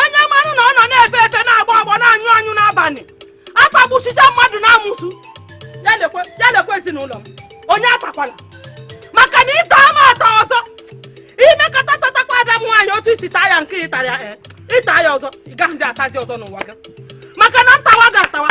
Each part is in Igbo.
onye marụ na ọ nọ na-efe efe na-agbọ agbọ na-anyụ anyụ n'abalị atagbusịcha mmadụ n'amụsụ ya lekwe ezinụlọ m onye atakwala maka na ịta ama ata ọzọ i mekata tatakwa ada m nwaanyị otu i si taa ya nke ịta ya eh, ịta ya ọzọ ị gaghịzi atazi ọzọ n'ụwa gị maka na ntawa ga-atawa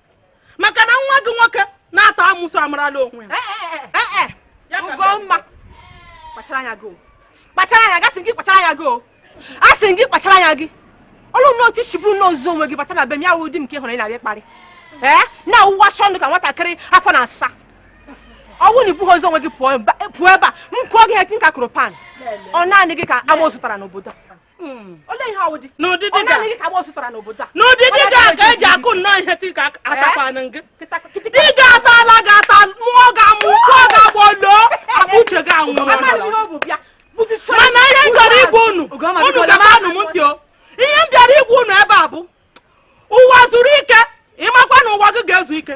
maka na nwa gị nwoke na-ata amụsụ amarala onwe ya eh, eh, eh, Ugomma kpachara anya gị kpachara anya gị asị m gị kpachara anya gị asị m gị kpachara anya gị ọlụ nne otu i si buru ozu onwe gị bata na be m ya wụ di m nke hụrụ ị na-abịa kparị ee na-awụwa chọndụ ka nwatakịrị afọ asaa ọ wụ na i bughị ozu onwe gị pụọ ebe a m kụọ gị ihe tinker kụrụ pan ọ naanị gị ka ama zụtara n'obodo n'ụdịdị gị ka e ji akụ nnọọ ihe tinker atakwana gị di gị atala gị ata mụọ gị amụ gbọọ gị agbọ loo akpa uche gị anwụ mana ihe m chọrọ ịgwa unu unu gebanụ m ntị o ihe m bịara ịgwa unu ebe a bụ Ụwazuruike ị makwa na ụwa gị ga-ezu ike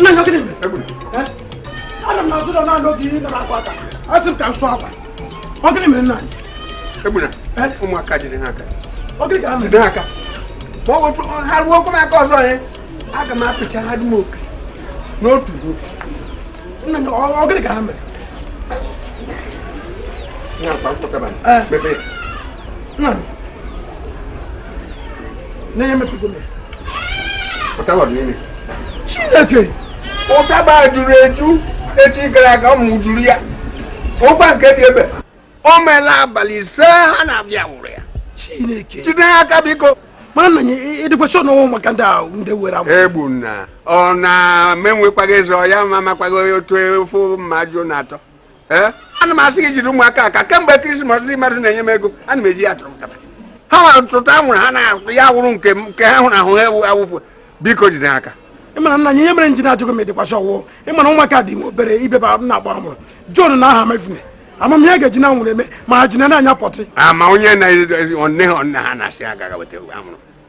nna anyị gịnị mere anọ m n'azụ ụlọ na-anụ oge ihe nara akwa aka asị m ka m sụọ akwa ọ gịnị mere nna anyị egbuna ụmụaka jide ha aka ọ gịnị ka ha mere ha aka ma ọ bụ ha ruo okwu m aka ọzọ ya aga m apịcha ha dum oke n'otu n'otu nna anyị ọ gịnị ka ha mere nna chineke ụtaba juru eju echi gara aga m mejuru ya ụgba nke dị ebe o meela abalị ise ha na-abịa wụrụ ya chineke jide ha aka biko mana nna anyị ị dịkwa sure na ọ wụ ụmụaka ndị ahụ ndị were anwụrụ egbuna ọ na m enwekwaghị eze ọ ya m amakwaghị otu ofe mmadụ na-atọ ee ana m asị gị jide ụmụaka aka kemgbe krismas ndị mmadụ na-enye m ego ana m eji ya tụrụ nkata ha nwere tụta anwụrụ ha na ya wụrụ nke m nke ha hụrụ ahụ ha ewu awụpụ biko jide ha aka mana nna anyị ihe mere m ji na-ajụ gị ma ị dịkwa sure ọ wụ ị ma na ụmụaka dị nwe obere ibeba m na-agba mụrụ John na ha mefune amamihe ga-eji anwụrụ eme ma ha ji na-anyụ potty ama onye na-edozi onne ha onne ha na-asị agaghị weta anwụrụ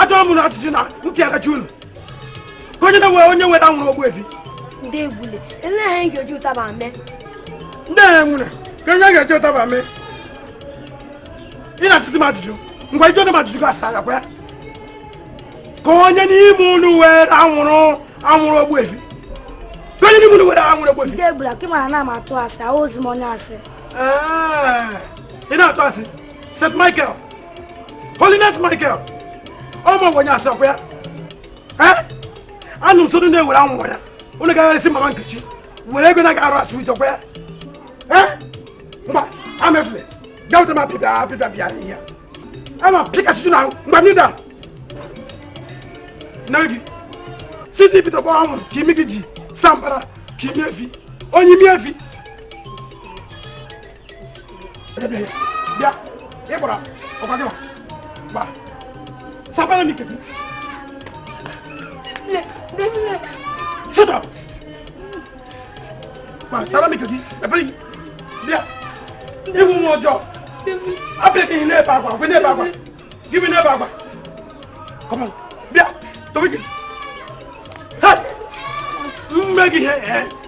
achọrọ m na ajụjụ na ntị agachi unu ka onye n'ime unu were anwụrụ Ogbuefi ndị egbule eleghị anya ga-eji ụtaba mee ndị a nwere ka onye ga-eji ụtaba mee ị na-ajụzi m ajụjụ ngwa ị jụọna m ajụjụ gị asa agakwa ya ka onye n'ime unu were anwụrụ anwụrụ Ogbuefi ka onye n'ime unu were anwụrụ Ogbuefi ndị egbule ka ị mara na m atụ asị awụzi m onye asị ị na-atụ asị st michael Holiness Michael ọmọ wọnyị asakwa ya anụ m sodo na-ewere anwụrụ ya unu gagharịsị mama Nkechi were ego na-aga arụ asụ ichekwa ya mba amefule gawụta m apịbịa apịbịa bịa ihe ama pịkasịtụ na mgbe m da na gị site ibite gbawa anwụrụ ka imi gị ji saa mbara ka imi efi onye imi efi bịa ị gbara ọkwa gị gba sapere m ike gị shut up gba sara m ike gị ebere gị bịa ị wụ nwa ọjọọ abịa gị n'ebe agwa gwe n'ebe agwa gị bi n'ebe agwa come on bịa dobe gị mme gị ihe ee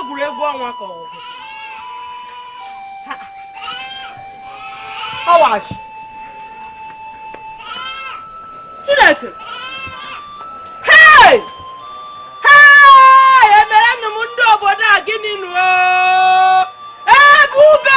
egwuregwu ọnwa ka ọwachi Chineke hei hei emere nụ m ndị obodo a gịnị nụ Ebube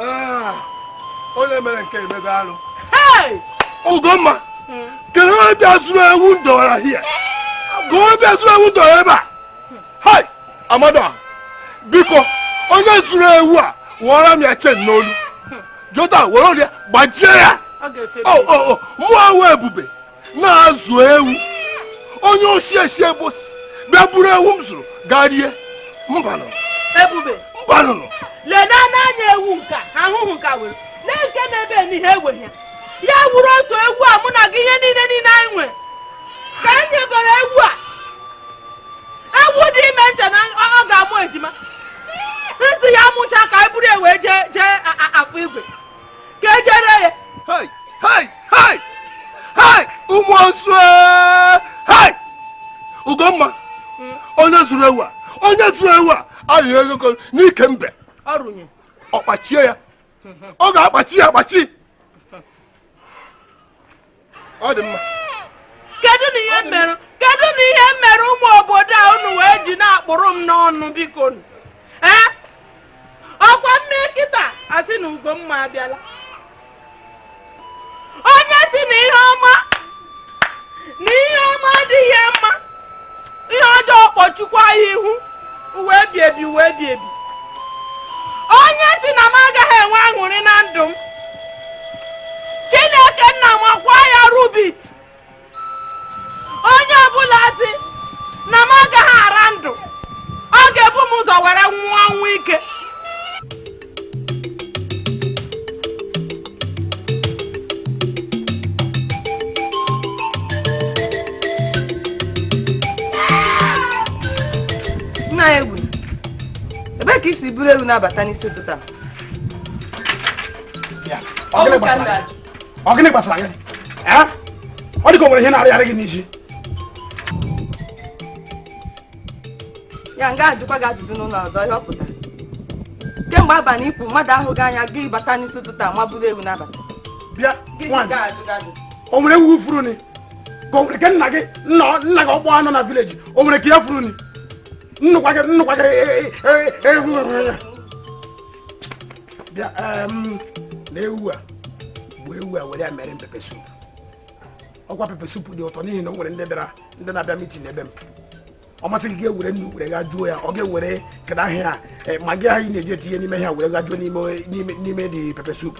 ah, onye mere nke a emego alụ Ugomma hmm. kedu onye bịa zuru ewu m dọwara hie ka onye bịa zuru ewu m dọwara ebe a hai Amadịọha biko onye zuru ewu a wụọra m ya chain n'olu jota were ya gbajie ya oh, oh, oh, mụ wụ Ebube na-azụ ewu onye osi esi ebe o si bịa buru ewu m zụrụ gaa rie mbanụ Ebube mbanụnụ leda n'anya ewu nke a ahụhụ nke a were lee nke na-ebe n'ihe egwe ya ya wuru otu ewu a mụ na gị ihe niile niile anyị nwe ka e nyegoro ewu a ewu dị ime m che na ọ ga-amụ ejima m sị ya mụcha ka anyị buru ya wee jee Afọ Igwe ka e je ree ya hei hei hei hei ụmụ osu hei Ugomma onye zuru ewu a onye zuru ewu a arịghị ego ko n'ike mbe ọrụnye ọ kpachie ya ọ ga-akpachi ya akpachi ọ dị mma kedu na ihe m mere kedu na ihe m mere ụmụ obodo a unu wee ji na-akpụrụ m n'ọnụ biko ee ọ kwa m mee kịta a sị na Ugomma abịala onye sị na ihe ọma na ihe ọma adịghị mma ihe ọjọọ kpọchukwa ya ihu ụwa ebi ebi ụwa ebi ebi onye sị na m agaghị enwe aṅụrị na ndụ m chineke nna m ọkwa ya rubit onye ọbụla sị na m agaghị ara ndụ ọ ga-ebu m ụzọ were nwụọ ọnwụ ike ka i si buru ewu na-abata n'isi ụtụtụ ọ gịnị gbasara gị ọ dị ka o nwere ihe na-arịgharị gị n'isi ya m ga-ajụkwa gị ajụjụ n'ụlọ ọzọ ihe ọ pụtara kemgbe abalị ị pụ mmadụ ahụ gị anya gị abata n'isi ụtụtụ a ma buru ewu na-abata bịa o nwere ewu furu ni ka o nwere ke nna gị nna gị ọkpọ a nọ na village o nwere ke ya furu ni nnukwa gị nnukwa gị ewu bịa na ewu a bụ ewu a were ya mere pepper soup ọkwa pepper soup dị ụtọ n'ihi na o nwere ndị bịara ndị na-abịa meeting ebe m ọ masị gị ga-ewere nnu were ghajuo ya ọ ga-ewere kedu aha ya Maggi ahụ i na-eji etinye n'ime ha were ghajuo n'ime the pepper soup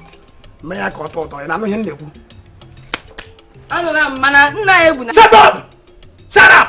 mee ya ka ọ tọọ ụtọ ị na-anụ ihe m na-ekwu Shut up! Shut up!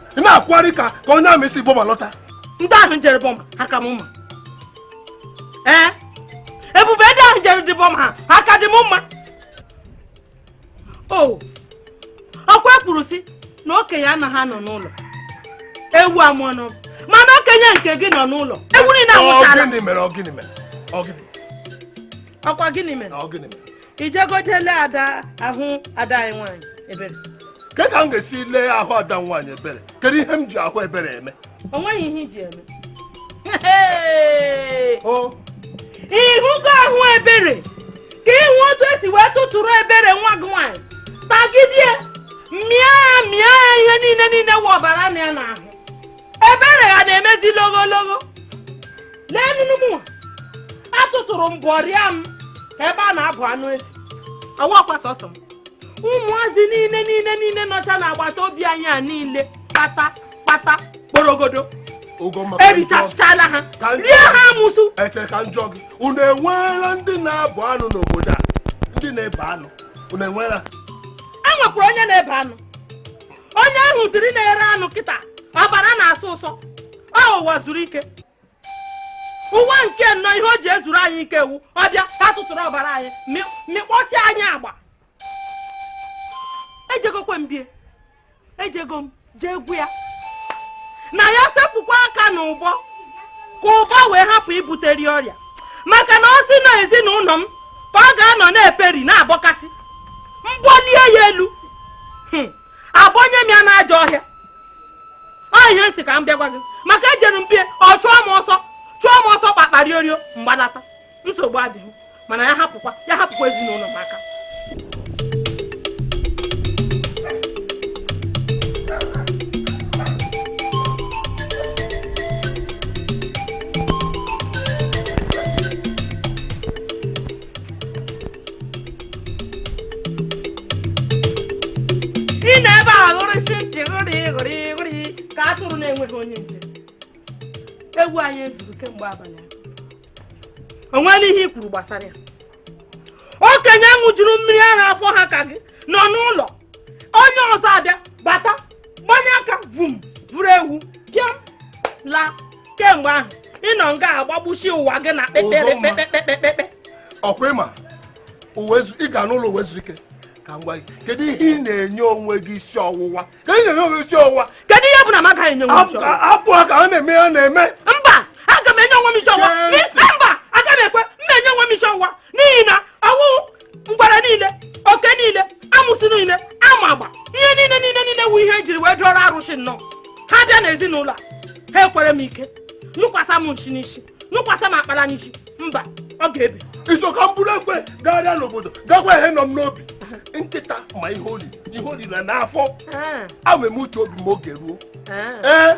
ị na-akwụgharị ka ka onye army si Burma lọta ndị ahụ jere Burma ha ka m mma ee ebube ndị ahụ jere the Burma ha ka di m mma o ọkwa kwuru sị na okenye anaghị anọ n'ụlọ ewu amụọ n'ọgbụ mana okenye nke gị nọ n'ụlọ ewu niile anwụchara Ọ gịnị mere ọ gịnị mere ọ gịnị ọkwa gịnị mere ọ gịnị mere i jegodi lee ada ahụ ada anyị nwaanyị ebere kee ka m ga-esi lee ahụ ada nwaanyị ebere kedu ihe m ji ahụ ebere eme o nweghị ihe i ji eme ị hụgo ahụ ebere ka ị hụ otu e si wee tụtụrụ ebere nwa gị nwaanyị tagidie mịa ya mịa ya ihe niile niile wụ ọbara nọ ya n'ahụ ebere ha na-emezi logologo n'enu enu mụnwa a tụtụrụ m bọrịa m ka ebe a na-abọ anụ ezi ọ wụkwa sọsọ m ụmụazị niile niile niile nọcha n'agbata obi anyị a niile kpata kpata kporogodo erichasịchala ha rie ha amụsụ eche ka m jụọ gị unu enweela ndị na-abọ anụ n'obodo a ndị na-ebe anụ unu enweela e nwekwara onye na-ebe anụ onye ahụ dịrị na-ere anụ nkịta ọbara na-asọ ụsọ ọ ụwa zuru ike ụwa nke nnọ ihe o ji ezuru anyị ike ewu ọ bịa ka tụtụrụ ọbara anyị mịkpọsị anyị agba ejegokwe m bie ejego m jee gwa ya na ya sepụkwa aka n'ụbọ ka ụbọ wee hapụ ibuteri ọrịa maka na ọ sị na ezinụlọ m ka ọ ga-anọ na-eperi na-abọkasị mgbọ lie ya elu hmm. abụnye m ya n'ajọ ọhịa ọ ihe m sị ka m bịa gwa gị maka ejere m bie ọ chụọ m ọsọ chụọ m ọsọ kpakpari orio m gbanata nsogbu adịghị mana ya hapụkwa ya hapụkwa ezinụlọ m aka ị nọ ebe a ghụrịsị ntị ghụrị ghụrị ghụrị ka atụrụ na-enweghị onye nche ewu anyị e zuru kemgbe abalị o nwere ihe i kwuru gbasara ya okenye ṅụjuru mmiri ara afọ ha ka gị nọ n'ụlọ onye ọzọ abịa bata gbanye aka vum buru ewu pịa laa kemgbe ahụ ị nọ nga a gbagbusi ụwa gị na kpekpekpekpekpekpekpe ọkwa ị ma ị ga n'ụlọ ụwa zuru ike ka m gwa gị kedu ihe ị na-enye onwe gị isi ọwụwa ka ị na-enye onwe isi ọwụwa kedu ihe bụ na m aga enye onwe isi ọwụwa hapụ ka a na-eme ya na-eme mba aga m enye onwe m isi ọwụwa mba aga m ekwe m na-enye onwe m isi ọwụwa n'ihi na ọwụ ngwere niile oke niile amusu niile ama agba ihe niile niile niile wu ihe e jiri wee dụọrọ arụsị nnọọ ha bịa n'ezinụlọ a ha ekwere m ike nyụkwasa m nsị n'isi nyụkwasa m akpara n'isi mba o ga-ebi iso ka m buru ekwe gagharịa n'obodo gakwa ihe nọ m n'obi nkịta ma ihe o ri ihe o ri na n'afọ ah. awem uche obi m oge ruo ah. ee eh?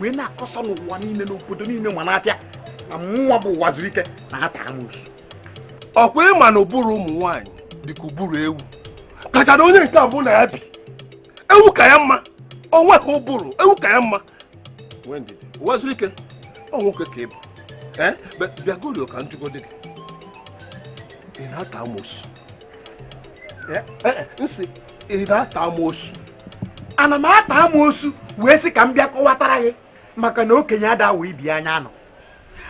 wee na-akọsọ n'ụwa niile n'obodo niile ma n'afịa na mụnwa bụ ụwa zuru ike na-ata amusu ọkwa ị ma na ụbụrụ ụmụ nwaanyị dịka ụbụrụ ewu kacha na onye nke a mụ na ya bi ewu ka ya mma onwe ka ụbụrụ ewu ka ya mma ụwa zuru ike ọ nwoke ka ị bụ bịagorio ka m jụgodị gị ị na-ata amosu m sị ị na-ata amosu ana m ata amoosu wee sị ka m bịa kọwatara gị maka na okenye ada awa ibi anya anọ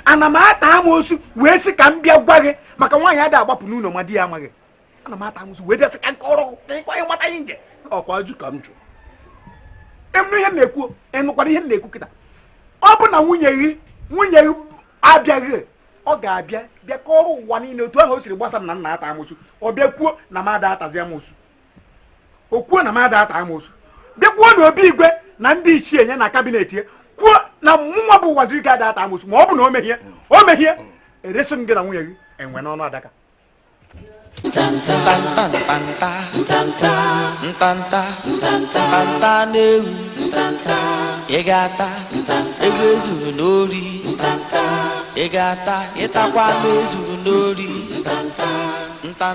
ana m ata amoosu wee sị ka m bịa gwa gị maka nwaanyị ada agbapụ n'ụlọ ma di ya amaghị ana m ata amoosu wee bịa sị ka m kọrọ ka ịkwa anyị mata ihe nje ọkwa ajụ ka m jụ ị nụ ihe m na-ekwu ị nụkwara ihe m na-ekwu kịta ọ bụ na nwunye gị nwunye gị abịaghị ọ ga-abịa bịa kọrọ ụwa niile otu ahụ o siri gbasa na m na-ata amoosu ọ bịa kwuo na m ada atazi amoosu o kwuo na m ada ata amoosu bịa kwuo na obi igwe na ndị ichie nye na kabinet ya kwuo na mụnwa bụ Ụwazuruike ada ata amoosu ma ọ bụ na o mehie o mehie eresi m gị na nwunye gị enwe n'ọnụ adaka ntanta n'ewu ị ga-ata ego ezuru n'ori ị ga-ata ịtakwa anụ ezuru n'ori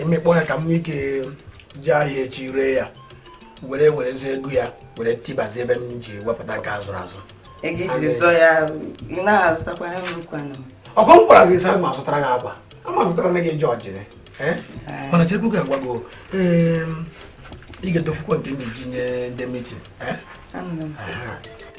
ị mịkpọ ya ka m nwee ike jee ahịa echi ree ya were werezi ego ya were tibazi ebe m ji wepụta nke azụrụ azụ ọkwa m gwara gị sị ma zụtara gị akwa ama zụtara na gị jọji eh? mana chekwe ka m gwa gị ị ga-edofukwa nke m ji nye ndị mitin eh?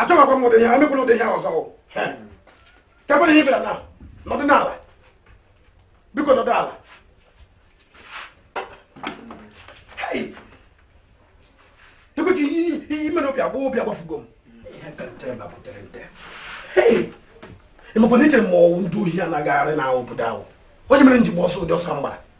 achọghịkwa m ụdị ihe a emekwala ụdị ihe a ọzọ kekwanụ ihe ị bịara na nọdụ n'ala biko nọdụ ala ebe ka ihe mere obi agba obi agbafugo m ị makwa na echere m ọ wụ ndị ohi na-agagharị na obodo ahụ ọ ya mere m ji gba ọsọ ụdị ọsọ m gbara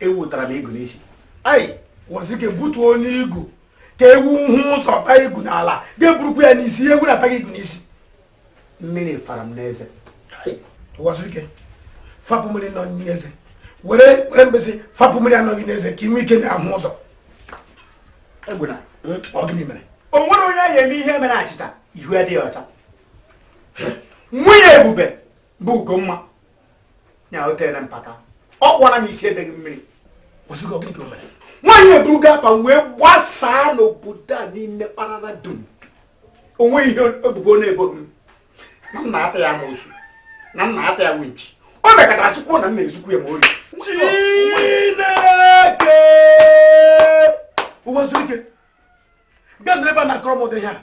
ewu tara m igu n'isi ei Ụwazuruike butuonụ igu ka ewu hụ ụzọ ta igu n'ala ị ga-eburukwa ya n'isi ewu na-ata gị igu n'isi mmiri fara m n'eze Ụwazuruike fapụ mmiri nọ n'eze were were mkpịsị fapụ mmiri nọ gị n'eze ka i nwee ike na-ahụ ụzọ egbuna hmm? ọ gịnị mere o nwere onye anyị eme ihe mere achịcha ihu adịghị ọcha nwunye ebube bụ ugomma ya o tere mpaka ọ kwara m isi edeghị mmiri Ụwazuruike gịnị ka o mere nwaanyị eburugo afa m wee gbasaa n'obodo a niile kparara dum o nwe ihe ebubo na-ebo m na m na-ata ya amoosu na m na-ata ya winchi o mekatara sịkwuo na m na-ezukwu ya ma ori Chineke Ụwazuruike ị ga-anọrọ ebe a na-akọrọ m ụdị ihe a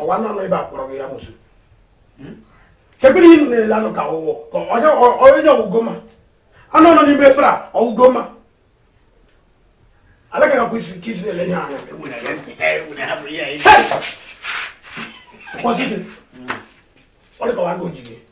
ọwa nọ n'ebe a kpọrọ gị amoosu hmm? kekwe ihe ị nọ na-ele anụ ka ọwụwọ ka onye ugomma anụ nọ n'ime efere a ugomma alaka ga kwụsị ka i si na-ele ihe anya ọ dịkwa gị ojige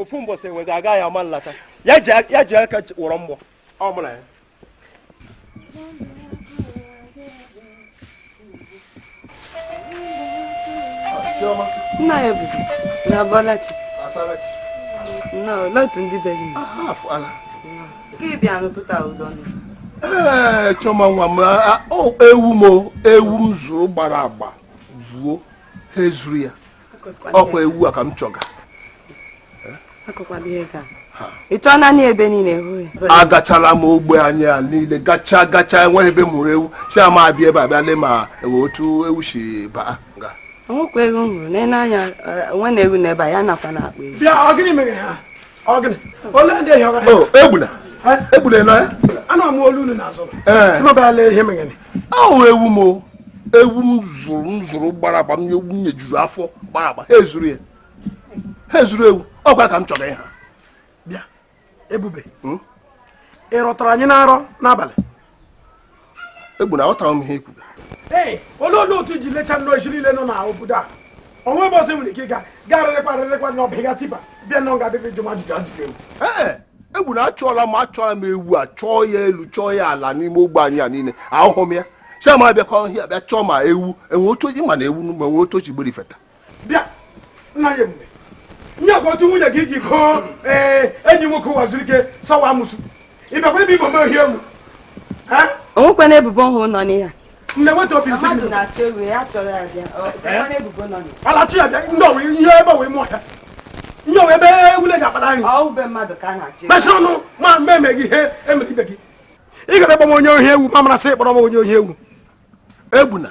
ofu mbọsị enwe ga-aga ya ama nlata ya ji aka wọrọ mgbọ ọ mụrụ ya nna anyị egbuna ị bọọla chi nna otu ndị be gị ka ị bịa n'ụtụtụ udo ee eh, chọma nwa m ewu m ewu m zụrụ gbara agba buo ha ezuru ya ọkwa ewu a ka m chọga achọọna m ebe niile agachala m ogbe anyị a niile gacha gacha enweghị ebe m hụrụ ewu sị ka m bịa ebe a bịa lee ma enwe otu ewu si baa nga nwekwa ewu m hụrụ n'anya nwa na-ewu n'ebe a ya nakwa na akpa ewu Egbuna Egbuna nọ ya anụ m olu unu n'azụ sị m bịa lee ihe megene ahụ ewu m ewu m zụrụ m zụrụ gbara agba m ewu m nyejuru afọ gbara agba ha ezuru ya ha ezuru ewu ọkwa ka m chọga ịha bịa Ebube hmm? ị rọtara anyị na nrọ n'abalị Egbuna aghọtara m ihe ị kwuga ee olee olee otu i ji lecha nnọọ isi niile nọ na obodo a onwe ebe ọzọ i nwere ike ịga karịrịkwa rịrịkwa na ọbịga tipa bịa nọ ga dịrị jụ m ajụjụ ajụjụ ewu ee Egbuna achọọla m achọọla m ewu a chọọ ya elu chọọ ya ala n'ime ogbe anyị a niile ahụhụ m ya sị m bịakwa ọhịa bịa chọọ ma ewu enwe otu ma na ewu ma enwe otu o shi gbere feta bịa nna ya Ebube nye kwa otu nwunye gị ji kpọọ ee eh, enyi nwoke Ụwazuruike sị ọ wụ amụsụ ị bịakwa ebe a ibo m ohi ewu onwekwa na ebubo ọhụụ nọ n'ihe nne nweta obi nsị gị alachi ya bịa ndị ọwụ ihe ebe ọwụ ime ọhịa ihe ọwụ ebe ewu na-akpata nri mechie ọnụ ma m ga-eme gị ihe emere ibe gị ị gara ịkpọ m onye ohi ewu m mara sị ị kpọrọ m onye ohi ewu Egbuna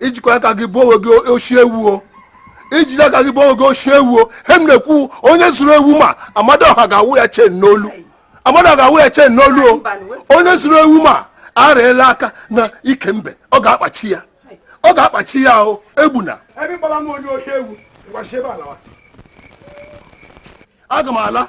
i jikwa aka gị boo onwe gị oshi ewu o i ji aka gị boo onwe gị oshi ewu o he m na-ekwu onye zuru ewu m a Amadịọha ga-awụ ya chain n'olu Amadịọha ga-awụ ya chain n'olu o onye zuru ewu m a arụela aka na ike mbe ọ ga-akpachi ya ọ ga-akpachi ya o Egbuna aga m ala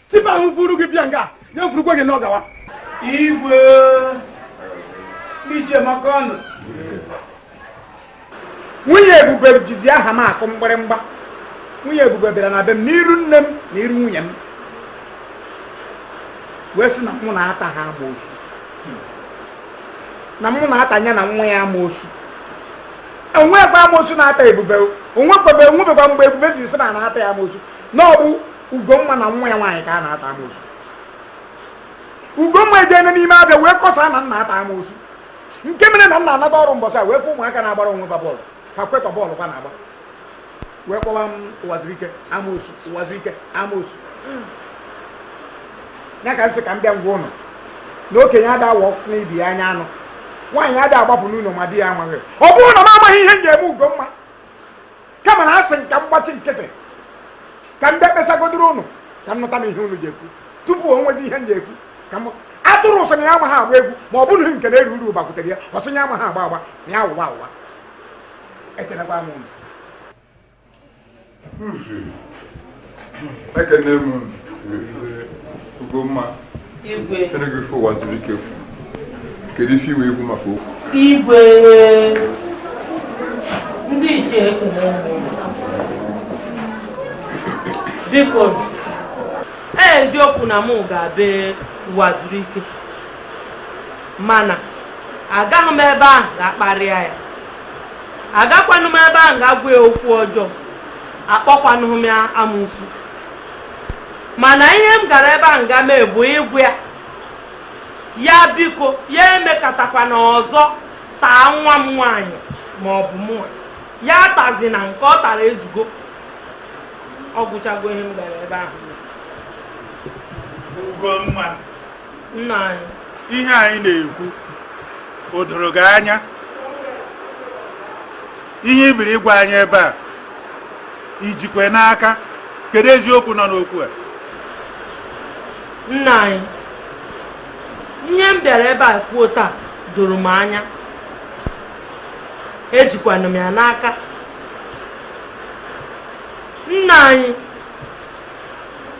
tipa ahụ vuru gị bịa nga ya vurukwa gị n'ọgawa igwe ichie m ọkwanụ nwunye Ebube jizi aha m akụ mgbịrịmgba nwunye Ebube bịara na be m n'iru nne m na iru nwunye m wee sị na mụ na-ata ha amoosu na mụ na-ata ya na nwa ya amoosu onwekwa amoosu na-ata Ebube onwebekwa mgbe Ebube ji sị na a na-ata ya amoosu na ọ bụ Ugomma na nwa ya nwaanyị ka a na-ata amoosu Ugomma ejeene n'ime afịa wee kọsaa na m na-ata amoosu nke mere na m na-anata ọrụ mbọsị a wee fụ ụmụaka na-agbara onwe ba bọọlụ ba kwetọ bọọlụ ba na-agba wee kpọwa m Ụwazuruike amoosu Ụwazuruike amoosu ya ka m sị ka m bịa gwa unu na okenye ada awọ n'ibi ya anya anụ nwaanyị ada agbapụ n'ụlọ ma di ya amaghị ọ bụrụ na m amaghị ihe m ga-eme Ugomma kama na asị ka m gbachi nkịtị ka m bịa kpesagodoro unu ka m nụtanụ ihe unu je-ekwu tupu o nwezi ihe m je-ekwu kama atụrụ sị na ya amaghị agba egwu ma ọ bụrụ nke e buru bịakwutere ya ọ sị ya amaghị agba agba na ya awụwa awụwa ekelekwa m unu ekene m Ugomma ị nụgo ife Ụwazuruike kedu ife i nwere ikwu maka okwu igwe ndị ichie ekele biko eziokwu na mụ gara be Ụwazuruike mana agaghị m ebe ahụ ga kparịa ya agakwanụ m ebe ahụ ga gwa ya okwu ọjọọ akpọkwanụghị m ya amụsụ mana ihe m gara ebe ahụ ga mee bụ ịgwa ya biko ya emekatakwana ọzọ taa nwa m nwaanyị ma ọ bụ mụnwa ya tazina nke ọ tara ezugo ọ gwụchago ihe m gara ebe ahụ Ugomma nna anyị ihe a ị na-ekwu o doro gị anya ihe ị bịara ịgwa anyị ebe a i jikwa n'aka kedu eziokwu nọ n'okwu a nna anyị ihe m bịara ebe a kwuo taa doro m anya ejikwanụ m ya n'aka nna anyị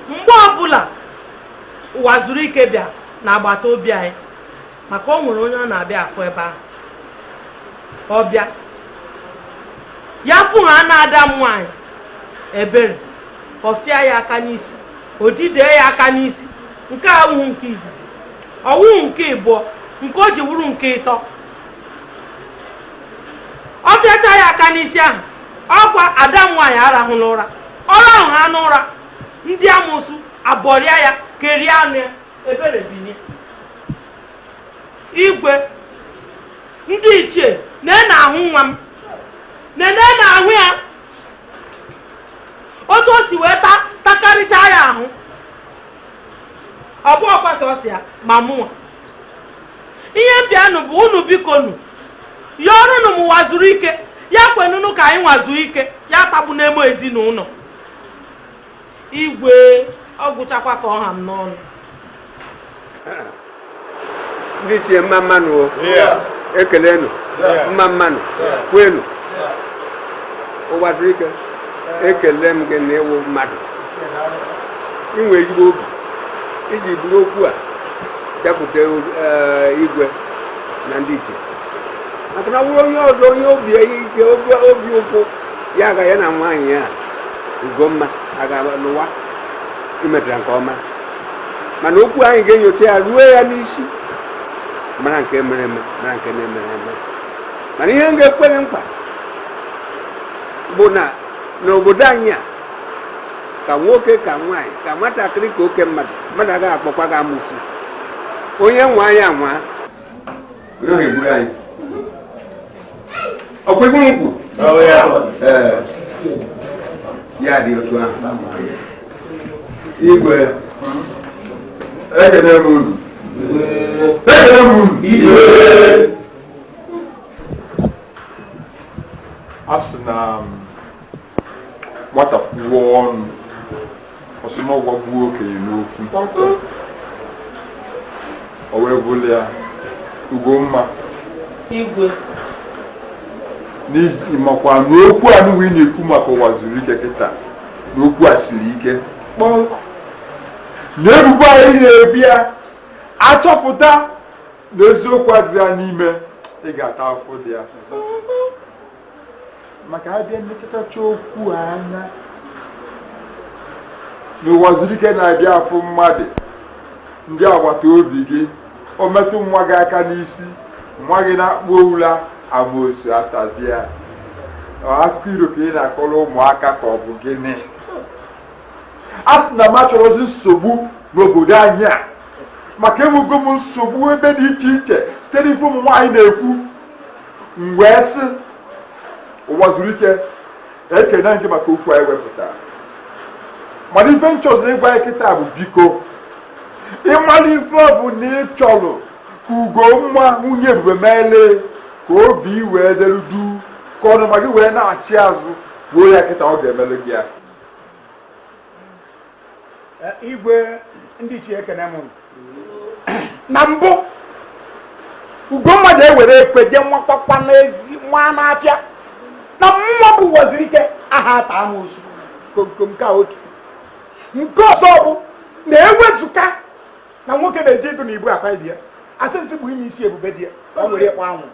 mgbe ọbụla Ụwazuruike bịa n'agbata obi anyị maka o nwere onye ọ na-abịa afụ ebe ahụ ọ bịa ya fụhaana ada m nwaanyị Ebere ọ fịa ya aka n'isi o jide ya aka n'isi nke a awụghị nke izizi ọ wụghị nke ịbụọ nke o ji wụrụ nke ịtọ ọ fịacha ya aka n'isi ahụ ọkwa ada m nwaanyị arahụ n'ụra ọ rahụhaa n'ụra ndị amụsụ abọrịa ya kerie anụ ya Ebere binie igwe ndị ichie na ị na-ahụ nwa m na ị na-ahụ ya otu o si wee takarịcha ya ahụ ọ bụghịkwa sọsọ ya ma mụnwa ihe m bịanụ bụ unu bikonu yọọrọnụ m Ụwazuruike ya kwenunu ka anyị wee zuru ike ya tagbuna m ezinụlọ igwe ọ gwụchakwa ka ọ ha m n'ọnụ ndị ichie mma mmanụ o ekelenu mma mmanụ kwenu Ụwazuruike ekele m gị na ị wụ mmadụ i nwe ezigbo obi iji buru okwu a bịakwute eh, igwe na ndị ichie maka na ọ wụrụ onye ọzọ onye obi ike obi obi ụfụ ya ga ya na nwaanyị ya Ugomma aga n'ụwa i metara nke ọma mana okwu anyị ga-enyocha ya ruo ya n'isi mara nke mere eme mara nke na-emerọ eme mana ihe m ga-ekwere nkwa bụ na n'obodo anyị a ka nwoke ka nwaanyị ka nwatakịrị ka oke mmadụ mmadụ agaghị akpọkwa gị amosu onye nwaa ya anwa onye ahụ egburu anyị ọkwa egbu nkwụ ya dị otu ahụ igwe ekene m unu ekene m unu a sị na nwata kwuo ọnụ ọ sị na ọ gwagbuo okenye n'okwu o wee bụrụ ya Ugomma igwe na ị makwa na okwu a nụwa ị na-ekwu maka Ụwazuruike kịta na okwu a siri ike kpọọ nkụ na ebubo a ị na-ebo ya a chọpụta na eziokwu adịrọ ya n'ime ị ga-ata afụfụ dị ya maka a bịa nlechachacha okwu anya na Ụwazuruike na-abịa afụ mmadụ ndị agbata obi gị o metụ nwa gị aka n'isi nwa gị nakpuo ụla amosu atazie ya akụkọ iro ka ị na-akọrọ ụmụaka ka ọ bụ gịnị a sị na m achọrọzi nsogbu n'obodo anyị a maka enwego m nsogbu ebe dị iche iche site n'ife ụmụ nwaanyị na-ekwu m wee sị Ụwazuruike ekene m gị maka okwu a ị wepụtara mana ife m chọzi ị gwa anyị kịta bụ biko ị mara ife ọ bụna ị chọrọ ka Ugomma nwunye ebube meele ka obi wee delu duu ka ọnụma gị wee naachi azụ kwuo ya kịta ọ ga-emele gị ya igwe ndị ichie ekene m na mbụ Ugomma na-ewere ekwe je nwakwakwa n'ezi nwa n'afịa na mmụwa bụ Ụwazuruike aha ata amosu komkom ka otu nke ọzọ bụ na ewezụga na nwoke na-eji ịdụ na ibu akwa ibi ya asị ntị bụ ime isi ebube di ya ọ nwere ịkpa anwụ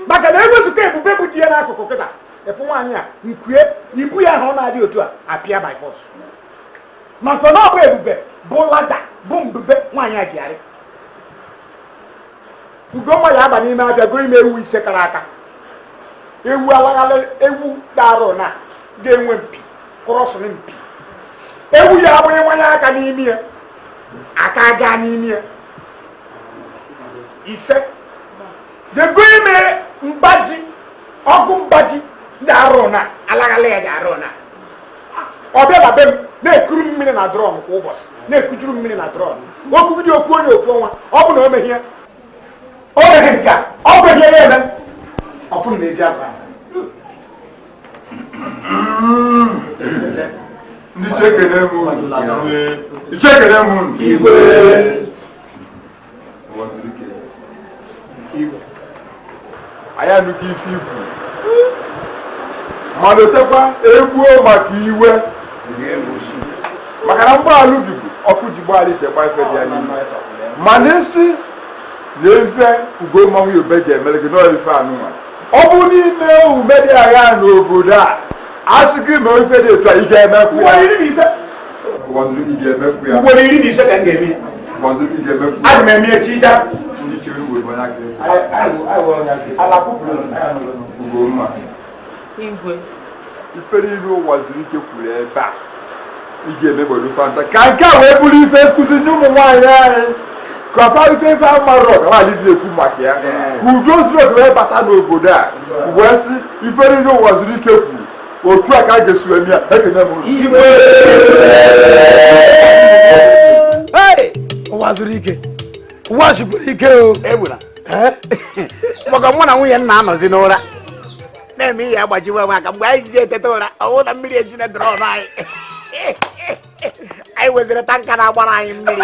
maka na ewezụga ebube bụ di ya n'akụkụ kịta efu nwaanyị a nkue ibu ya ahụ ọ na-adị otu a apịa by force maka na ọ bụ ebube bụ lada bụ mbube nwaanyị a ji arịgo ngwa ya aba n'ime afịa goro ime ewu ise kara aka ewu alaghala ewu darụ na ga-enwe mpi kụrọsụrụ mpi ewu ya abụ ị wanye aka n'imi ya aka gaa n'imi ya ise dego ime mgbaji ọkụ mgbaji ndị arụ na alaghala ya dị arụ na ọ bịa na be m na-ekuru m mmiri na drọm kwa ụbọchị na-ekujuru m mmiri na drọm okwu bido okwu onye ofu ọnwa ọ bụ na o meghie o meghị nke a ọ bụ ihe ya eme ọfụ m n'ezi agwa ndị ichie ekene m unu. Ndị ichie ekene m unu. anyị anụgo ife i kwu ma lotekwa egbuo maka iwe maka na mgbaalụ bibu ọkụ ji gbaala ite gba ife dị ya n'ime mana ị sị na ife ugomma nwunye be ji emere gị n'ọrụ ife anụnwa ọ bụ n'ime ume dị agha n'obodo a a sị gị mee ife dị etu a ị ga-emekwu ya ugboro iri na ise ka m ga-eme ya aga m eme echi ja igwe ifere iri ụwa zuru ike kwuru ebe a ị ga-emegbodo fancha ka nke a wee bụrụ ife nkụzi nye ụmụ nwaanyị anyị ka ọfa ife ife a marọ ka nwaanyị dị ekwu maka ya ka udo zuru oke wee bata n'obodo a wee sị ifere iri ụwa zuru ike kwuru otu a ka a ga-esi eme ya ekene m igwe ụwa zuru ike ụwa sikwuru ike o egbuna maka mụ na nwunye m na-anọzi n'ụra na-eme ihe agbajiwe nwa aka mgbe anyị ji eteta ụra ọwụ na mmiri ejuna drọm anyị anyị nweziri tanka na-agbara anyị mmiri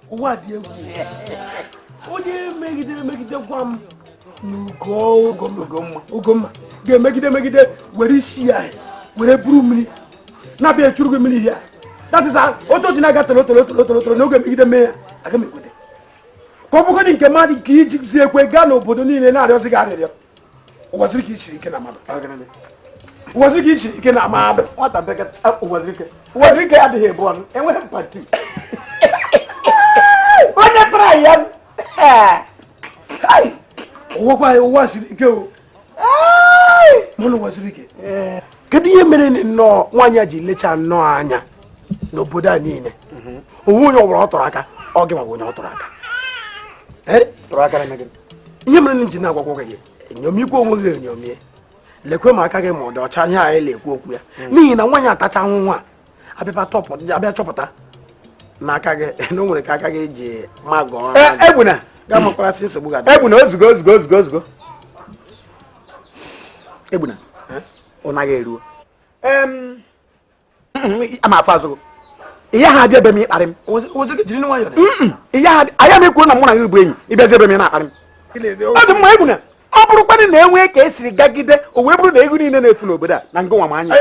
ụwa dị egwu onye megide megide gwa m na ugomma ga-emegide megide were isi ya were buru mmiri na-abịa echuru gị mmiri ya that is otu otu na-aga toro toro toro toro toro na ọ ga-emegide mee ya aga m ekwete ka ọ bụgodị nke mmadụ nke e jizi ekwe gaa n'obodo niile na-arịọzi gị arịrịọ ụwaziri ike ị siri ike na mmadụ ụwaziri ike ị siri ike na mmadụ nwata bekata ụwaziri ike ụwaziri ike adịghị ebu ọnụ enweghị mpatu onye para ya ụwakwa ya ụwa siri ike o mana ụwaziri ike kedu ihe mere nnọọ nwaanyị a ji lecha nnọọ anya n'obodo a niile o nweghị onye ọ bụla ọ tụrụ aka ọ gịnwa bụ onye ọ tụrụ aka ihe mere anyị ji na-agwakwu gị enyomikwu onwe gị enyomie lekwe ma aka gị ma ọ dị ọcha ihe anyị na-ekwu okwu ya n'ihi na nwaanyị a tachaa ahụhụ a a bịa chọpụta na aka gị na o nwere ka aka gị ji ma gọọ egbuna ga-amakwasị nsogbu ga egbuna o zugo o zugo o zugo o zugo egbuna ọ naghị eruo ama afọ azụgụ ihe ha abịa be m ịkparị m ihe ha anya m ekwuo na mụ na gị bụ enyi ị bịazi be m na-akparị m ọ dị mma egwu na ọ bụrụkwanị na e nwee ka e siri gagide o wee bụrụ na ewu niile na-efu n'obodo a na ngịnwa m anya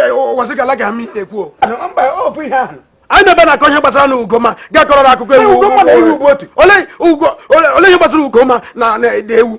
anyị na-ebe na-akọ ihe gbasara na ugomma ga-akọrọ akụkọ ewu ole ihe gbasara ugomma na ewu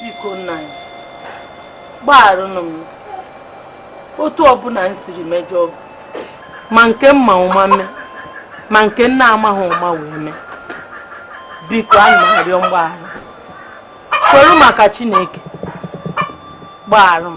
biko nna anyị gbagharụnụ m otu ọbụla m siri mejọọ gị ma nke m ma ụma mee ma nke m na-amaghị ụma wee mee biko ana m arịọ mgbaghara kwere maka chineke gbaghara m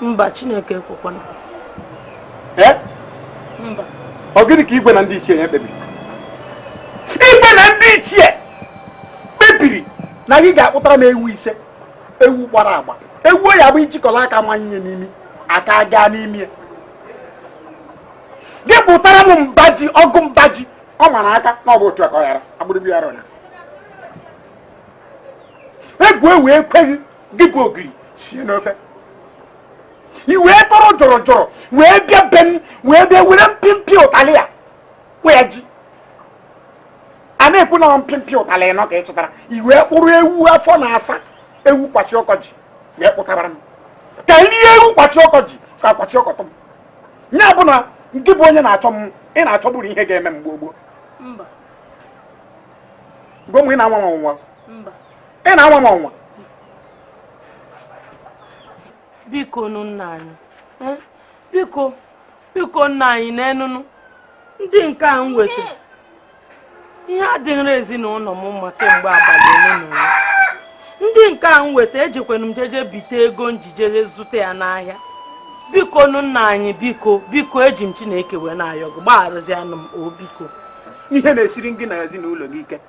mba chineke ekwekwana eh? mba ọ gịnị ka igwe na ndị ichie ya kpebiri igwe na ndị ichie kpebiri na gị ga-akpụtara m ewu ise ewu gbara agba ewu ya bụ i jikọla aka manye n'imi aka gaa n'imi ya gị kpụtara m mba ji ọgụ mba ji ọ mara aka na ọ bụ otu aka ọ yara agbụrụgbu yara ọnya egwu ewu ekweghị gị bụ ogiri sie n'ofe i wee tọrọ jọrọ jọrọ wee bịa be m wee bịa were mpịmpị ụtalị ya wee ji a na-ekwu na mpịmpị ụtalị nọ ka ị chọtara i wee kpụrụ ewu afọ na-asa ewu kwashiorkor ji wee kpụtabara m ka m rie ewu kwashiorkor ji ka kwashiorkor tụ m ya bụ na ngị bụ onye na-achọ m ị na-achọbụrụ ihe ga-eme m gboo gboo gwa m ị na-anwa m ọnwa ị na-anwa m ọnwa bikonụ nna anyị eh, biko biko nna anyị neenụnụ ndị nke a m weta ihe adịghịrị ezinụlọ m mma kemgbe abalị ole na ole ndị nke a m weta ejekwanụ m jeje bite ego m ji jee zụta ya n'ahịa bikonụ nna anyị biko biko eji m chineke wee na-ayọ gị gbagharụzianụ m o biko ihe na-esiri gị na ezinụlọ gị ike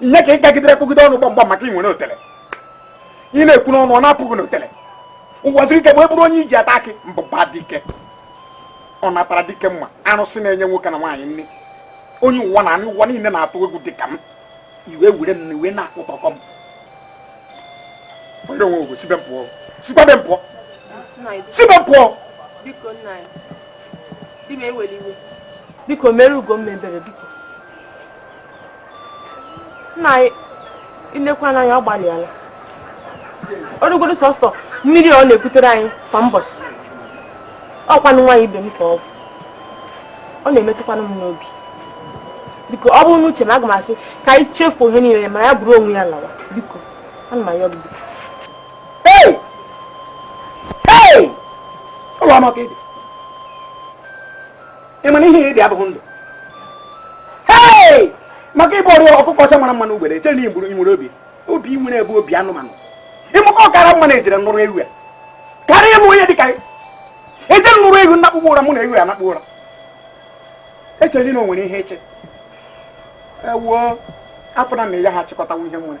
ihe ka ị gagidere kụgide ọnụ gbamgbam maka ị nwere otele ị na-ekwu n'ọnụ ọ na-apụ gị n'otele ngwaziri ike bụ ebụrụ onye e ji ata akị mbụba dike ọ natara dike mma arụsị na-enye nwoke na nwaanyị nri onye ụwa na anị ụwa niile na-atụ egwu dịka m iwe were m na iwe na-akụtọkọ m onye onwe ogwe si be m pụọ sikwa be m pụọ si be m pụọ biko nna anyị di m ewela iwe biko meere ugomma ebere biko nna anyị i lekwanụ anya ọ gbalịala ọ bụrụgodu sọsọ mmiri ọ na-ekutere anyị kwa mbọsị ọ kwanụ nwaanyị ibe m ka ọ bụ ọ na-emetụkwanụ m n'obi biko ọ bụrụ n'uche m aga m asị ka anyị chefuo ihe niile ma ya buru onwe ya lawa biko ana m ayọ gị biko Hey! Hey! Ụlọ ọma ka ị dị. ị mara ihe ị dị abụghị ndụ maka ị bụ ọrịa ọkụkọ ọcha mara mma n'ugbere eche na igburu nwere obi obi nwere ebe obi anụmanụ ịmụkọ ọ kara mma na e jiri nụrụ ewu ya karịa ịmụ onye dịka e jiri nụrụ ewu nakpụkpọ ụra mụ na ewu ya nakpụ ụra echezi na o nwere ihe eche ewuo afọ na na ya ha chịkọtawa ihe nwere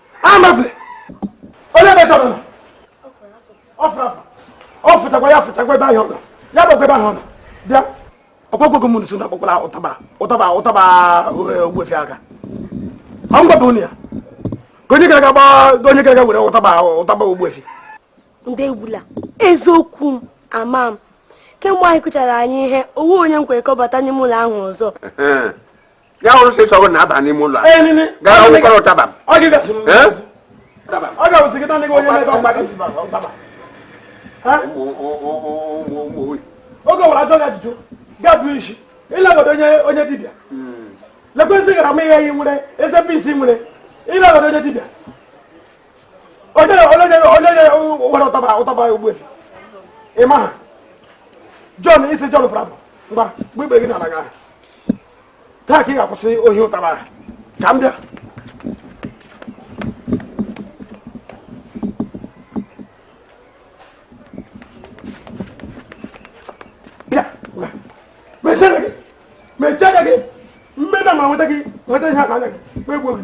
ahamefule ole ebe ka ọ nọ ọ fụrụ afọ ọ fụtakwa ya fụtakwa ebe ahụ ọ nọ ya bụ ebe ahụ ọ nọ bịa ọkpọkpọgo m nso na akpọkwala ụtaba ụtaba ụtaba eh, ogbuefi aka ọ ngwa bụ ya ka onye gara gba onye gara were ụtaba ụtaba ogbuefi ndị egbula eziokwu m ama m kemgbe anyị kụchara anyị ihe ọ wụ onye m kwere kọbata n'ime ụlọ ahụ ọzọ ya hụrụ sị sọ gị na-aba n'ime ụlọ gara ọgwụkwara ụtaba ọ ga-awụsị gị tanị gị onye mebe ọgba gị oge ọwara ajụ gị ajụjụ ga-abụ isi ịlagọdo onye dibịa lekwesị gara ma ihe yi nwere eze bisi nwere ịlagọdo onye dibịa onye were ụtaba ụtaba ogbuefi ị ma aha John isi John Bravo ngwa gbe ikpe gị n'ala gị ahụ taa ka ị ga-akwụsị ohi ụtaba ka m bịa mechaa anya gị mmeda ma nweta gị nweta ihe aka anya gị megbuo gị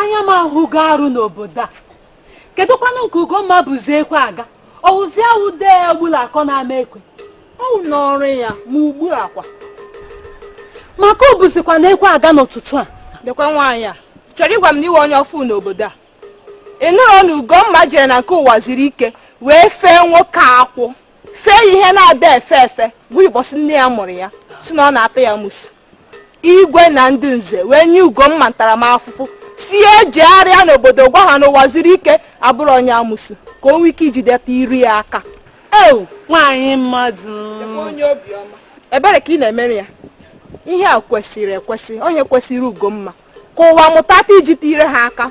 anya m ahụgo arụ n'obodo a kedụkwanụ nke ugomma buzi ekwe aga ọ wụzi awụ dee ya gbula akọ na-ama ekwe ọ wụ ọrụ ya ma ugbu a kwa maka o buzikwanụ ekwe aga n'ụtụtụ a lekwa nwaanyị ị chọrọ ịgwa m na ị wụ onye ọfụ n'obodo a ị nụrụ na ugomma jere na nke ụwa ziri ike wee fee nwoke akwụ fee ihe na-ada efe efe gwa ya ụbọsị nne ya mụrụ ya sị na ọ na-apị ya amusu igwe na ndị nze wee nye ugomma ntaramafụfụ sị ya jegharịa n'obodo gwa ha na ụwa ziri ike abụrọ onye amusu ka o nwee ike ijideta ire ya aka ewu nwaanyị mmadụ onye obiọma ebere ka ị na-emere ya ihe a kwesịrị ekwesị ọ ihe kwesịrị ugomma ka ụwa mụta taa ijite ire ha aka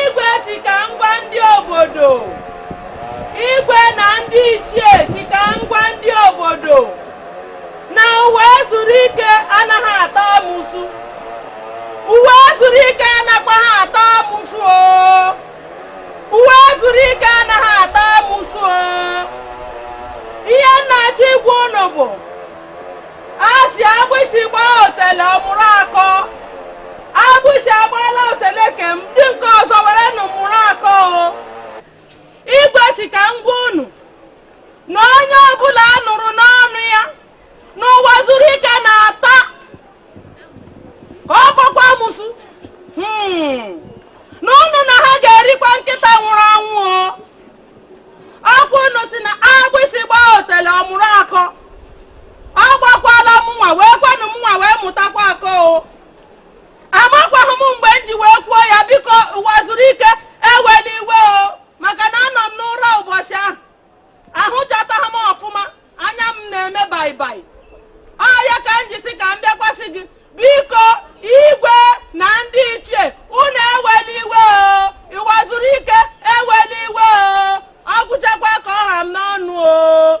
igwe si ka m gwa ndị obodo igwe na ndị ichie si ka m gwa ndị obodo na ụwa zuru ike anaghị ata amụsụ ụwa zuru ike anakwaghị ata amụsụ o ụwa zuru ike anaghị ata amụsụ o ihe m na-achọ ịgwa ụnụ bụ a si agbịsị gbaa otele ọ mụrụ akọ agbịsị agbaala otele ka ndị nke ọzọ werenụ mụrụ akọ o igwe si ka m gwa unu na onye ọbụla a nụrụ n'ọnụ ya na ụwa zuru ike na-ata ka ọ bụkwa amụsụ Hmm. na unu na ha ga-erikwa nkịta nwụrụ anwụ o ọkwa unu si na agbịsị gbaa otele ọ mụrụ akọ ọ gbakwala mụnwa wee kwanụ mụnwa wee mụtakwa akọ o amakwaghị m mgbe m ji wee kwuo ya biko ụwa zuru ike ewela iwe o maka na anọ m n'ụra ụbọchị ahụ ahụchataghị m ọfụma anya m na-eme baibai ọ ya ka m ji si ka m bịakwasị gị biko igwe na ndị ichie unu ewela iwe o ụwa zuru ike ewela iwe o ọ gwụchakwa ka ọ ha m n'ọnụ o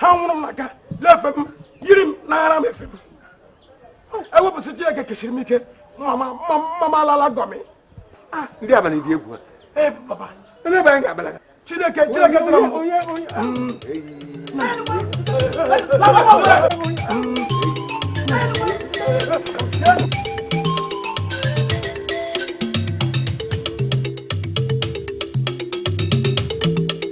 ha nwụrụ m n'aka le efe m yiri m n'ara m efe m ewepụsị Chineke kechiri m ike mama alala gọmị ah, ndị abalị dị egwu ee papa ndị abalị ga-abala Chineke Chineke tụrụ m onye onye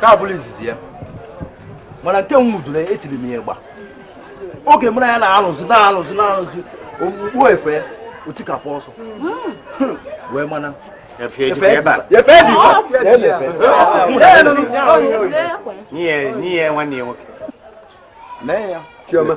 ka abụrụ izizi ya mana nke nwudoro etiri m ya ịgba oge mara ya na-alụzi na-alụzi na-alụzi okpukpu efe otikapụ ọsọ hmm. wee mana n'ihe nwanne ya nwoke mee ya chioma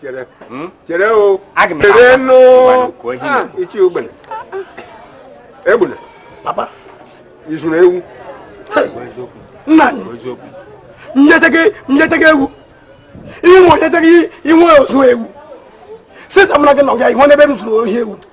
chere hmm? chere o chere nụ ah, ichi ogbene egbuna papa i zuru ewu nna anyị nyeteghị ewu inwe onyeteghị inwe ozu ewu sịsa mara gị na ọbịa ihe n'ebe m zuru ohi ewu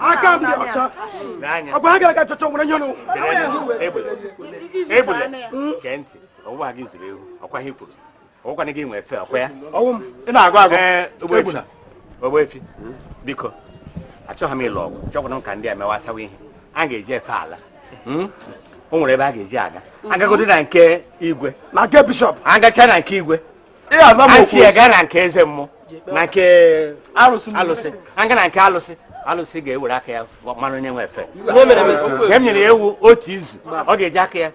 aka m dị ọcha ọ bụ ha gara ka chọchọ nwere nye nụ Egbuna gee ntị ọ wụkwa gị zuru ewu ọkwa ihe kwuru ọkwana gị nwe efe ọkwa ya ọ wụ m ị na-agụ agụ ee ogbefi ogbefi biko achọghị m ịlụ ọgụ chọkwana m ka ndị a mewa asawa ihe a ga-eji efe ala hmm? o nwere ebe a ga-eji aga a gagodi na nke igwe na nke bishọp a gacha na nke igwe a si ya gaa na nke eze mmụọ na nke alụsị a gaa na nke alụsị alụsị ga-ewere aka ya mara onye nwe efe nke m nyere ya ewu otu izu ọ ga-eji aka ya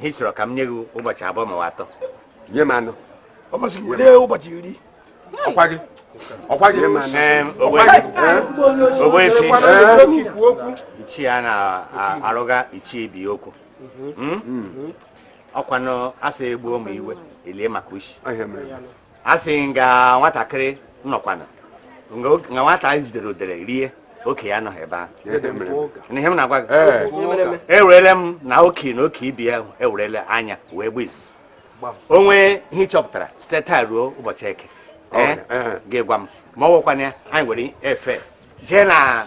ihe ị chọrọ ka m nye gị ụbọchị abụọ ma atọ nye m anọ ọ masị gị were ụbọchị iri ọkwa gị ọkwa gị ogbefi ichie a na-arụga ichie ibe okwu hmm? ọkwanụ a sị egbuo ma iwe elie maka ushi a sị nga nwatakịrị nọkwana nga oke- nga nwata jidere odere rie oke ya anọghị ebe ahụ na ihe m na-agwa gị ewerele m na oke na oke ibe ya ewerele anya wee gba izuzu o nwee ihe ị chọpụtara site taa ruo ụbọchị eke ee gị gwa m ma ọ wụkwana ya anyị ewere efe jee na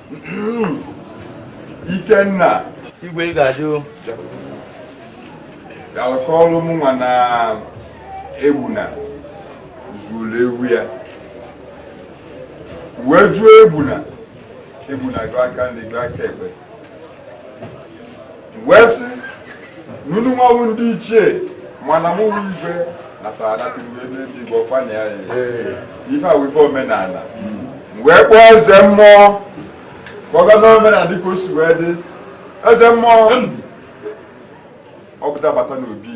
Ikenna igwe ị ga-adị o galụ kọọrụ mụnwa na Egbuna zuru ewu ya wee jụọ Egbuna Egbuna gaa aka nri gaa aka ekpe wee sị na unu nwa wụ ndị ichie mana mụ igwe natara anata uwe ndị igbo ọkwana ya ife a wụ ife omenala wee kpọọ eze mmụọ ka ọ gaa n'omenala dịka o si wee dị eze mmụọ ọ pụta bata n'obi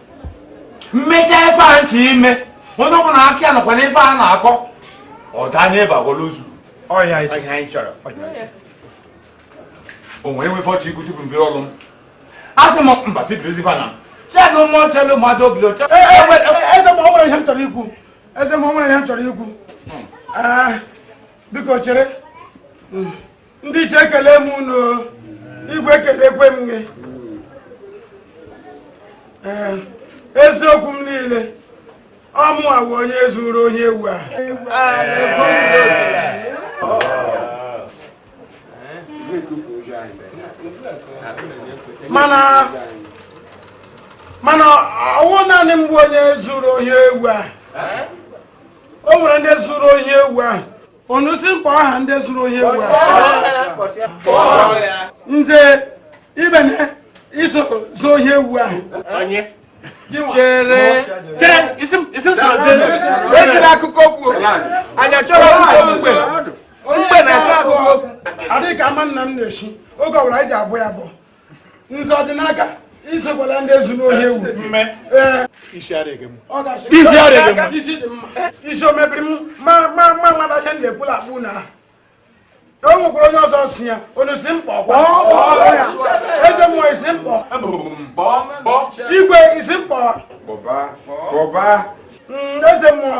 m mecha ife m chi ime onye ọbụla aka ya nọkwa n'ife a na-akọ ọ daa n'ebe agwala ozu ọ ya anyị chọrọ onye nwe ife ọ chi ikwu tupu m bie ọlụ m a sị m mba si bilizie ife a na chelu mmụọ chelu mmadụ obi oche eze m o nwere ihe m chọrọ ikwu eze m o nwere ihe m chọrọ ikwu biko chere ndị ichie ekele m unu igwe ekelekwe m gị ee eziokwu m niile ọ mụ wụ onye zuru ohi ewu a mana mana ọ wụghị naanị m bụ onye zuru ohi ewu a o nwere ndị zuru ohi ewu a unu sị m kpọọ aha ndị zuru ohi ewu nze ibene i so zuo ohi ewu ahụ chere ejila akụkọ okwu anyị achọrọ mgbe mgbe na-achọ akụkọ okwu adịghị ka ama nna m na-eshi oge ọbụla anyị ji abụ ya bụ nze ọdịnaka i sokwa na ndị zuru ohi ewu mme isi adịghị m isi adịghị m isi dị mma isi o mebiri m ma ma ma nwata ihe m na-ekwula akpụ na o nwekwara onye ọzọ so ya unu sị m kpọọ eze mmụọ ị sị m kpọọ igwe ị sị m kpọọ eze mmụọ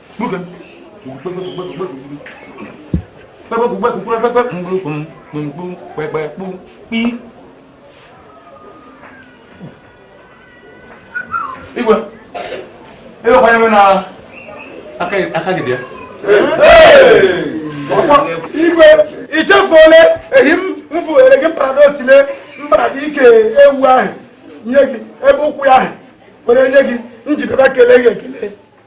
igwe ebe kwanye nwe na aka gị dị ya igwe i chefuole ehi m vutere gị mbarada otile mbarada ike ewu ahụ nye gị ebe ụkwụ ya ahụ were nye gị m ji bịa kelee gị ekele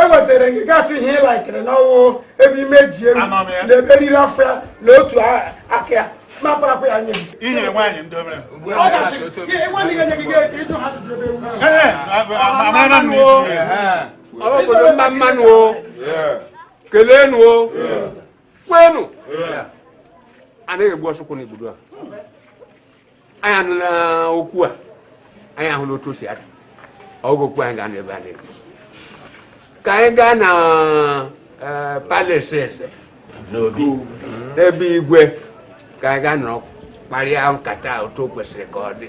ewetara gị gasị ihe ị laikere n'ọnwụ ebe imeji ewu na ebe eriri afọ ya na otu aka ya ma kparakwa ya nye i nyere nwaanyị ndị obere ọ gasị nwaanyị ga-enye gị ịjụ ha ajụjụ ebe ewu ọbụbụrụ mma mmanụ o kelenu o kwenu anaghị egbu ọchụkwụ n'igbudu a anyị anụla okwu a anyị ahụla otu o si ada ọ bụghị okwu anyị ga-anọ ebe a na-ekwu ka anyị gaa na eh, palace eze n'obi n'ebe igwe ka anyị gaa nọrọ kparịa nkata otu o kwesịrị ka ọ dị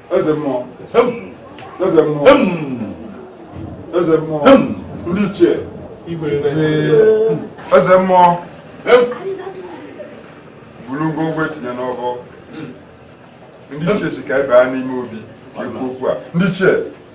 eze mmụọ eze mmụọ eze mmụọ ndị ichie igwe eze mmụọ buru ngwongwo gị tinye n'ọbọ ndị ichie sị ka anyị baa n'ime obi kwuo okwu a ndị ichie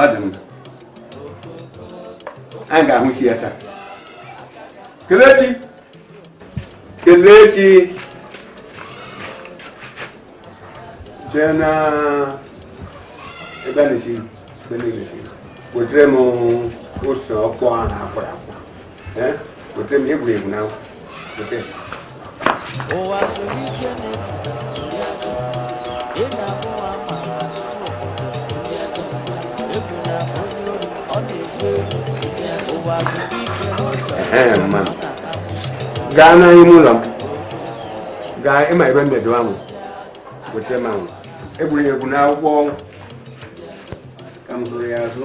ọ dị mma anyị ga-ahụ isi ya taa kelechi kelechi jee na ebe a na-esi ebe na-esi wetere m ose ọkpọ ahụ akwara gaa n'ime ụlọ m gaa ịma ebe m bịadowa m weta m ahụ egwuregwu n'akwụkwọ ọnwụ ka m zụrụ ya azụ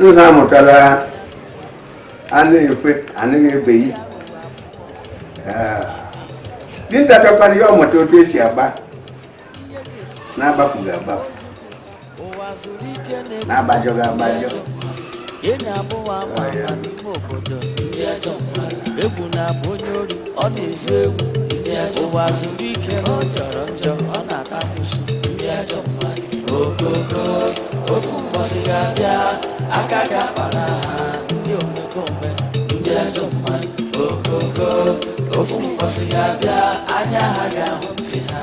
nza amụtala a na-efe anaghị ebeghị dinta chọkwara ya ọmụta otu esi agba n'agbafughị agbafu n'agbajọghị agbajọ enyi abụọ ama ama n'ime obodo ndị ajọ mmadụ egwu na-abụ onye ori ọ na-ezu egwu ụwa zuru ike na ọ jọrọ njọ ọ na-ata amusu ndị ajọ mmadụ okoko ofu mbọsị ga-abịa aka ga-akpara ha ndị omekome ndị ajọ mmadụ okoko ofu mbọsị ga-abịa anya ha ga-ahụ ntị ha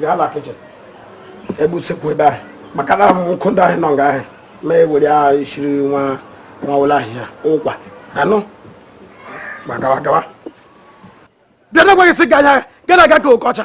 bịa na kichin ebe usekwu ebe ahụ maka na nkụ ndị ahụ nọ nga ahụ ma ewere ahụ isiri nwa nwa ụlọ ahịhịa ụkwa anụ gbagawa gawa bịa na gwaghị sị ga anya gana aga ka oke ọcha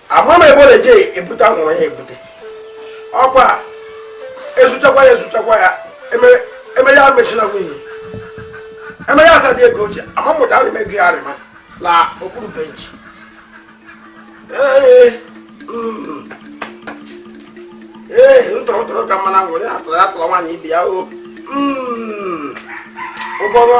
ama m ebe ọ na-eje ebute anwụrụ ya ebute ọkwa ezuchakwa ya ezuchakwa ya emere ya mechina nwunye emere ya asadị ego ochie ama mụta arịma ego ya arịma la okpuru benchi ee mm. ntọrọtọrọ ka mmanụ anwụrụ ya atụrụ ya tụrụ nwaanyị ibe ya o mm. ụgbọrọ